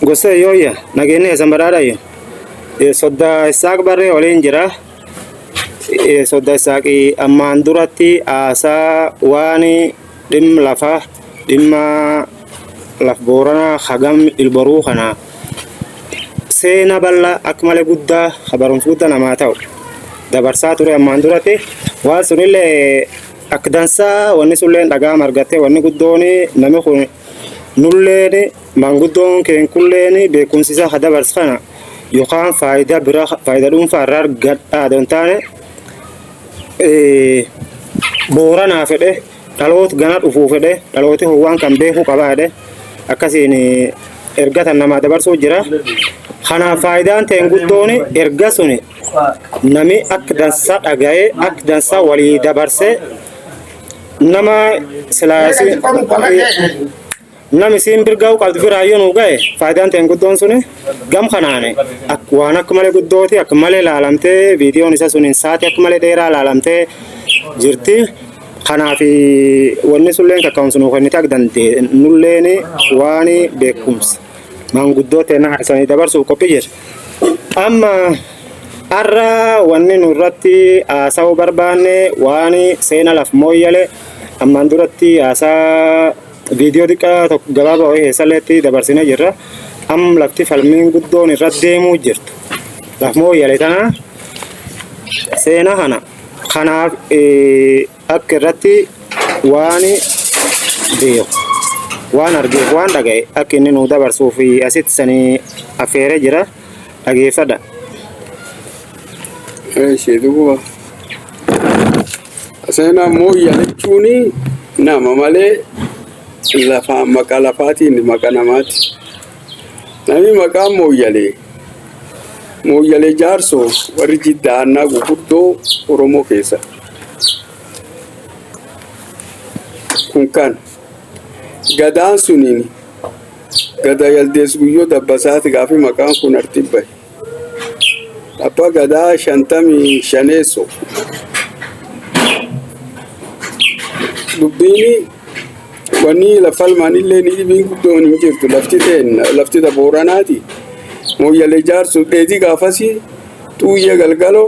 Gosa yooyya nageenni eessan badhaadhayya. Soddaa Issaaq barree waliin jira. Soddaa Issaaqii ammaan duratti haasaa waan dhimma lafaa dhimma laf booranaa hagam ilboruu kana seena bal'aa akka malee guddaa ha barumsa guddaa namaa ta'u dabarsaa ture ammaan duratti waan sunillee akka dansaa wanni sunillee dhagaa margattee wanni guddoon namni kun Nulleen maanguddoon keenkulleen beekumsi isaa ka dabarsu kana yookaan faayidaa biraa faayidaa dhuunfaa irraa argadhaa adoo hin taane eh, booranaa fedhe dhaloota gana dhufuu fedhe dhalooti howwaan kan beekuu qabaa jedhe akkasiin eh, erga tan namaa dabarsuu jira. Kanaaf faayidaan ta'een guddoon erga suni nami akka dansaa dhaga'ee akka dansaa walii dabarsee nama silaasi nami siin birgaa'u qabdu biraa yoo nu ga'e faayidaan ta'een guddoon suni gam kanaane ak- waan akka malee guddooti akka malee laalamtee viidiyoon isa suniin saatii akka malee dheeraa laalamtee jirti. Kanaaf wanni sulleen kaka'umsa nu kennite akka dandeenye nulleen waan beekumsa. maanguddoo teena isanii dabarsuuf qophii jira. Amma har'a wanni nurratti haasa'uu barbaanne waan seena laf mooyyale ammaan duratti haasaa viidiyoo xiqqaa tokko gabaabaa wayii keessalleetti dabarsine jirra. Am lafti falmiin guddoon irra deemuu jirtu. Laf mooyyale tana seena kana kanaaf Akka irratti waan beeku, waan argeef waan dhaga'e akka inni nuu dabarsuu fi asitti sanii affeeree jira dhageeffadha. Ishee duuba seenaa mooyya jechuun nama malee lafaa maqaa lafaatiin maqaa namaati. Namni maqaa mooyyalee mooyyalee jaarsoo warri jidda aannaa gurguddoo Oromoo keessatti. kun kan gadaan suniin gada yaldees guyyoo dabbasaati gaafi maqaan kun artibba abba gadaa shantamii shaneesso dubbiini wanni lafalmaanillee ni dhibiin guddoon hin jirtu lafti teen lafti ta booranaati mooyyalee jaarsu dheedii gaafasii xuuyyee galgaloo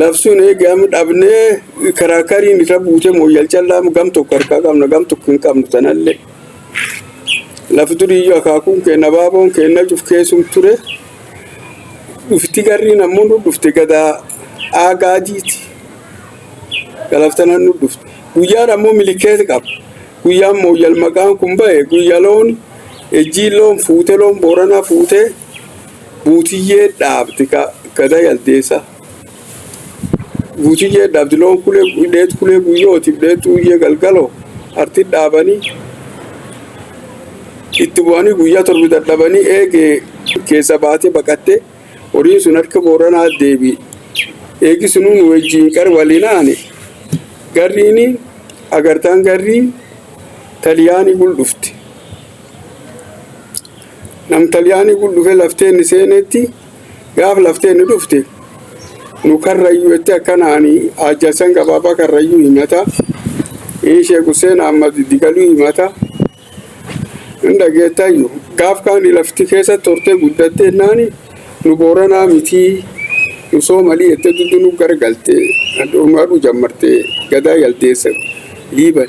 Labsuun eegee amma dhabnee karaakariin irra buutee mooyyal callaa gam tokko harkaa qabna gam tokko hin qabnu tanallee. Laf duriyyuu akaakuun keenya abaaboon keenya cuf keessum ture. Dhufti garriin ammoo nu dhufte gadaa aagaa jiiti. Galaftanan nu dhufte. Guyyaan ammoo milikeessa qaba. Guyyaan mooyyal maqaan kun ba'e guyya loon ejjiin loon fuute loon booranaa fuutee. Guutiyyee dhaabdi gada yaldeessa. Guutiyyee dhaabdi loon kulee dheetu kulee guyyooti dheetu guyyee galgaloo arti dhaabanii itti bu'anii guyyaa torbi dadhabanii eegee keessa baatee baqattee horiin sun harka booranaa deebi eegi sunuun wajjiin qar waliin aane garriini agartaan garrii taliyaanii gul dhufte. Nam Xaliyaanii kun dhufee laftee inni seenetti gaaf laftee inni dhufte nu karrayyuu jettee akkana ani Haajjassan Gabaabaa karrayyuu himata. Sheek Hussein Ahmad Digaluu himata. Hin dhageettayyu. Gaaf kaani lafti keessa tortee guddattee naani nu booranaa mitii nu soomalii jettee duddu nu gargalte. Aduu jammarte gadaa yaldeessa liiban.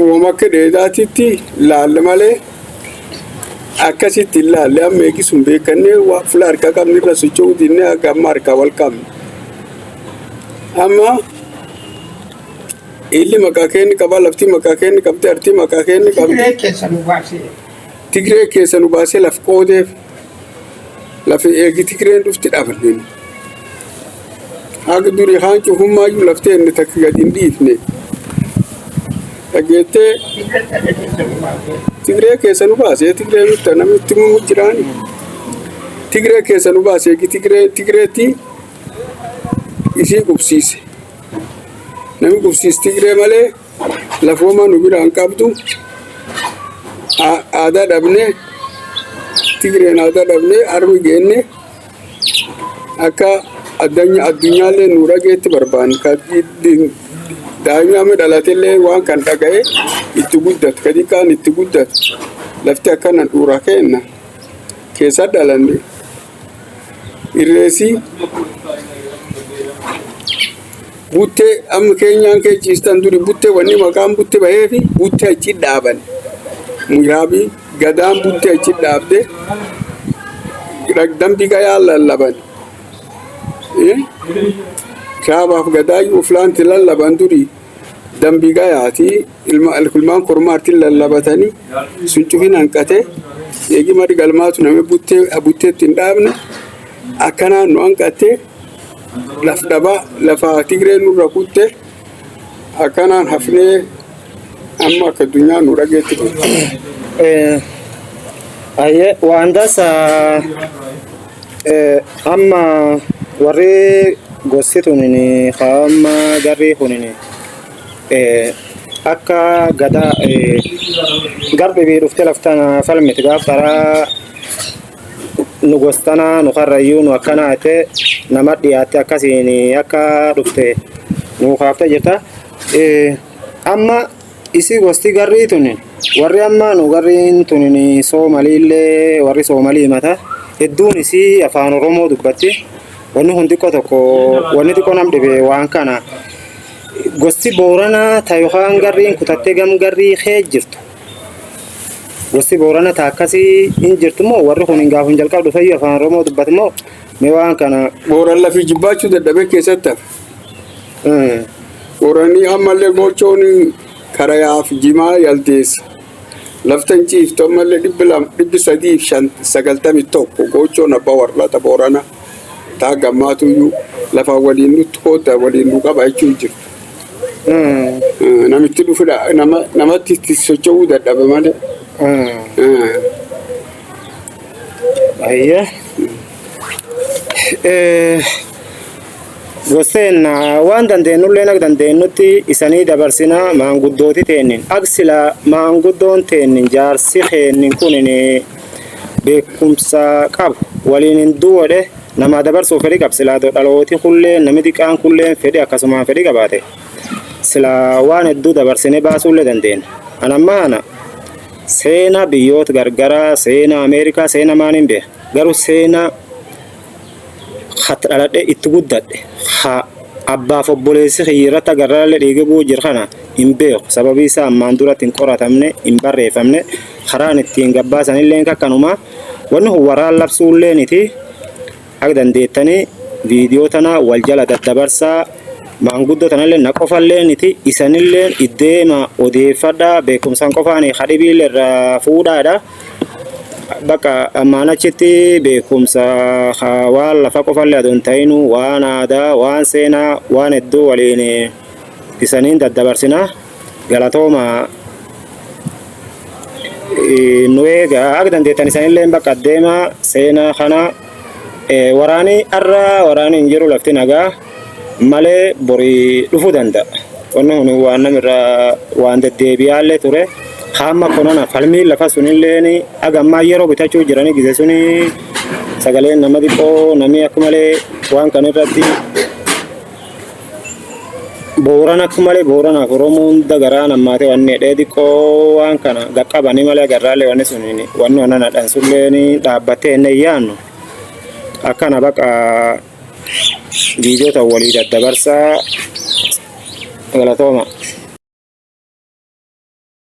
uumama akka dheedaatitti laalle malee akkasitti hin laalle amma eegis hin beekanne waan fuula harkaa qabne irra socho'uu dinne akka amma harkaa wal qabne. Amma illi maqaa keenni qaba lafti maqaa keenni qabdi arti maqaa keenni qabdi Tigiree keessa nu baasee. Tigiree keessa nu baasee laf qoodeef. lafa eegi tigreen dhufti dhaabanneen haga durii haan cufummaayyuu laftee inni takka gad hin dhiifne dhageettee tigree keessa nu baasee tigree mitta namni itti mumu jiraani tigree keessa nu baasee eegi tigree tigreetti isii qubsiise nami qubsiis tigree malee Lafooma nu biraan qabdu aadaa dhabne Tigreen aadaa dhabne harmi geenne akka addunyaallee nu dhageetti barbaanna. Daa'imni dhalatellee waan kan dhaga'e itti guddatu ka xiqqaan itti guddatu lafti akkana dhuura keenna keessa dhalanne. irreessi buttee amma keenyaan kee ciistan duri buttee wanni maqaan butte bahee fi buttee achi dhaaban miraabii gadaan buttee achi dhaabde dambi gayaa lallaban kaabaaf gadaa uflaanti lallaban duri dambi gayaati. ilma alkulmaan kormaartiin lallabatanii sun cufin hanqatee eegi marri galmaatu namni buttee butteetti hin dhaabne akkanaan nu hanqattee laf dhabaa lafa tigree nurra kutte akkanaan hafnee amma akka addunyaa nu dhageetti jirti. Eh, Ayyee waan dasa eh, amma warri gosti tunin haa amma garri kunin akka gadaa garbi bii dhufte laftana falmiti gaaf qaraa nu gostana nu karrayyuu nu akkana jette nama dhiyaatte akkasiin akka dhufte nu kaafte jirta. Amma isi gosti garrii tun warri amma nu garriin tun soomaliillee warri soomalii himata hedduun isii afaan oromoo dubbatti wanni kun xiqqoo tokko wanni xiqqoo nam dhibe waan kana. Gosti Booranaa ta yookaan garriin kutattee gam garrii kee jirtu. Gosti Boorana ta akkasii hin jirtu moo warri kun hin gaafun jalqaba dhufeyyuu afaan Oromoo dubbatu moo mee waan kana Booran lafii jibbaachuu dadhabee keessatti hafe. mm, Booranii ammallee gochoon karayaaf jimaa yaldeessa. Laftan ciiftu ammallee dhibbi lama dhibbi sadiif shan sagaltamii tokko gochoon abbaa warraata Booranaa. Ta hanga ammaatu iyyuu lafaan waliin nutti koodda waliin nu qaba jechuu hin jirtu. Eh, Namitti dhufudha nama, namatti itti socho'uu dadhabe malee. Eh, Ayyee. Eh, Gosseen ah, waan dandeenyullee akka dandeenyutti isanii dabarsina maanguddooti teennin. Ak sila maanguddoon teennin jaarsi keennin kunin beekumsa qabu waliin hin duwodhe namaa dabarsuuf fedhi qab silaa do dhalooti kullee nami xiqqaan kulleen fedhi akkasumaan fedhi qabaate silaa waan hedduu dabarsine baasuullee dandeenya an amma ana seena biyyoota gargaraa seena ameerikaa seena maaniin beeka garuu seena Hatti dhaladhe itti guddadhe ha abbaaf obboleessi kiyyi irratti agarraalle dhiige bu'u jir kana hin beeku sababii isaa ammaan duratti hin qoratamne hin barreeffamne karaan ittiin gabbaasan illee kakkanuma wanni kun waraan labsuu illee niti akka dandeettanii viidiyoo tana wal jala daddabarsaa maanguddoo tanallee na qofallee niti isanillee iddeema odeeffadhaa beekumsaan qofaanii kadhibiillee irraa fuudhaadha. Bakka ammaan achitti beekumsa haa waan lafa qofallee adoo hin ta'inu waan aadaa, waan seenaa, waan hedduu waliin isaniin daddabarsina. Galatooma eh, nu eegaa akka dandeettan isanillee bakka deemaa seenaa kana eh, waraanii har'a waraanii hin jiru lafti nagaa. malee bori dhufu danda'a. Wanni kun waan namirra waan deddeebi'aallee ture. Kaamma konana falmiin lafa sunilleen haga ammaa yeroo bitachuu jiranii gise suni sagaleen nama xiqqoo namni akka malee waan kana irratti booran akka malee booranaaf oromoo hunda garaan ammaatee wanni hidhee xiqqoo waan kana gaqqabanii malee agarraallee wanni suniin wanni onanadhaan sulleen dhaabbattee hin yaannu akkana baqa viidiyoo ta'u walii daddabarsaa galatooma.